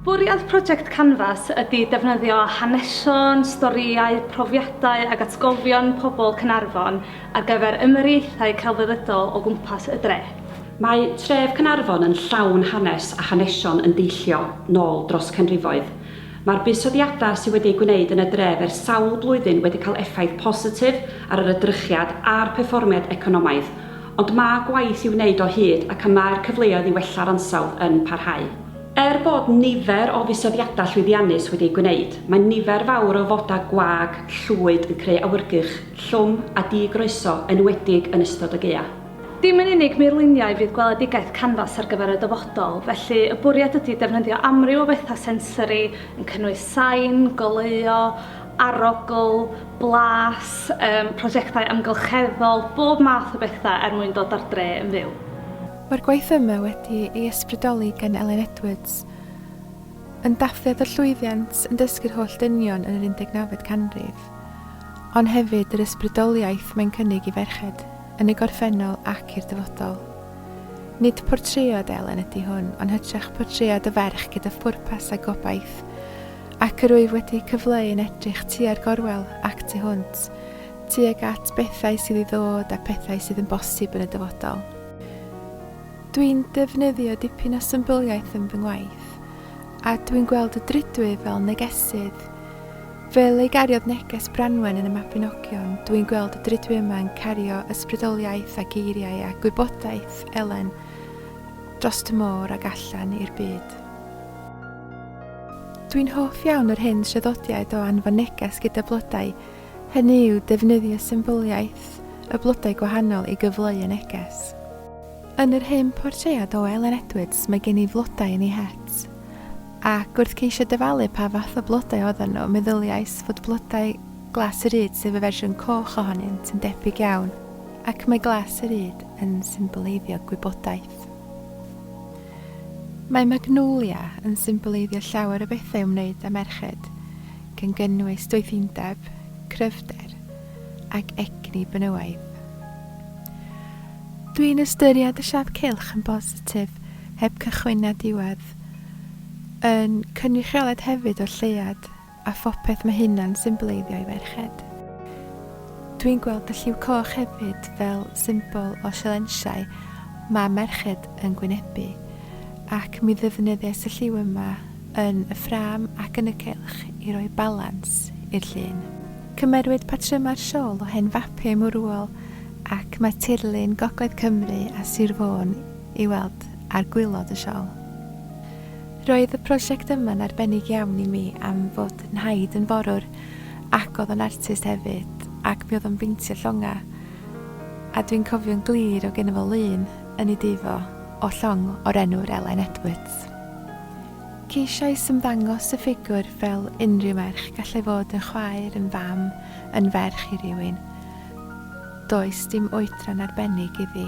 Bwriad project Canvas ydy defnyddio hanesion, storïau, profiadau ac atgofion pobl Caernarfon ar gyfer ymyriaethau celfyddydol o gwmpas y dre. Mae tref Caernarfon yn llawn hanes a hanesion yn deillio nol dros canrifoedd. Mae'r buddsoddiadau sydd wedi eu gwneud yn y dref ers sawl blwyddyn wedi cael effaith positif ar yr edrychiad a'r perfformiad economaidd, Ond mae gwaith i'w wneud o hyd ac y mae'r cyfleoedd i wella'r ansawdd yn parhau. Er bod nifer o fusoddiadau llwyddiannus wedi eu gwneud, mae nifer fawr o fodau gwag llwyd yn creu awyrgylch llwm a di-groeso, enwedig yn ystod y gaeaf. Dim yn unig murluniau fydd gweledigaeth Canvas ar gyfer y dyfodol, felly y bwriad ydy defnyddio amryw o fethau sensori, yn cynnwys sain, goleuo, arogl, blas, yym prosiectau amgylcheddol, bob math o bethau er mwyn dod â'r dre yn fyw. Mae'r gwaith yma wedi ei ysbrydoli gan Elen Edwards, yn dathliad y llwyddiant yn dysgu'r holl dynion yn yr 19fed canrif, ond hefyd yr ysbrydoliaeth mae'n cynnig i ferched, yn y gorffennol ac i'r dyfodol. Nid portread Elen ydy hwn, ond hytrach portread o ferch gyda phwrpas a gobaith, ac yr wyf wedi cyfleu yn edrych tua'r gorwel ac tu hwnt, tuag at bethau sydd i ddod a phethau sydd yn bosib yn y dyfodol. Dwi'n defnyddio dipyn o symbyliaeth yn fy ngwaith, a dwi'n gweld y drydwy fel negesydd. Fel ei gariodd neges Branwen yn y Mabinogion, dwi'n gweld y drydwy yma'n cario ysbrydoliaeth a geiriau a gwybodaeth Elen dros y môr ac allan i'r byd. Dwi'n hoff iawn yr hyn traddodiad o anfon neges gyda blodau, hynny yw defnyddio symbyliaeth y blodau gwahanol i gyfleu y neges. Yn yr hen portread o Elen Edwards mae gen i flodau yn ei het, ac wrth ceisio dyfalu pa fath o blodau oedden nhw, meddyliais fod blodau glas y ryd sef y fersiwn coch ohonynt yn debyg iawn, ac mae glas y ryd yn symboleiddio gwybodaeth. Mae Magnolia yn symboleiddio llawer o bethau ymwneud â merched, gan gynnwys doethindeb, cryfder ac egni benywaidd. Dwi'n ystyried y siad cylch yn bositif, heb cychwyn na diwedd, yn cynrychioled hefyd o'r lleuad A phopeth mae hynna'n symboleiddio i ferched. Dwi'n gweld y lliw coch hefyd fel symbol o sialensiau mae merched yn gwynebu, ac mi ddefnyddiais y lliw yma yn y ffrâm ac yn y cylch i roi balans i'r llun. Cymerwyd patrymau'r siôl o hen fapiau mwrwol ac mae tirlun Gogledd Cymru a Sir Fôn i weld ar gwilod y siôl. Roedd y prosiect yma'n arbennig iawn i mi am fod Nhaid yn forwr ac oedd o'n artist hefyd ac mi oedd o'n beintio llongau a dwi'n cofio'n glir o gynno fo lun yn ei dŷ fo o llong o'r enw'r Elen Edwards. Ceisiais ymddangos y ffigwr fel unrhyw merch gallai fod yn chwaer, yn fam, yn ferch i rywun. Does dim oedran arbennig iddi.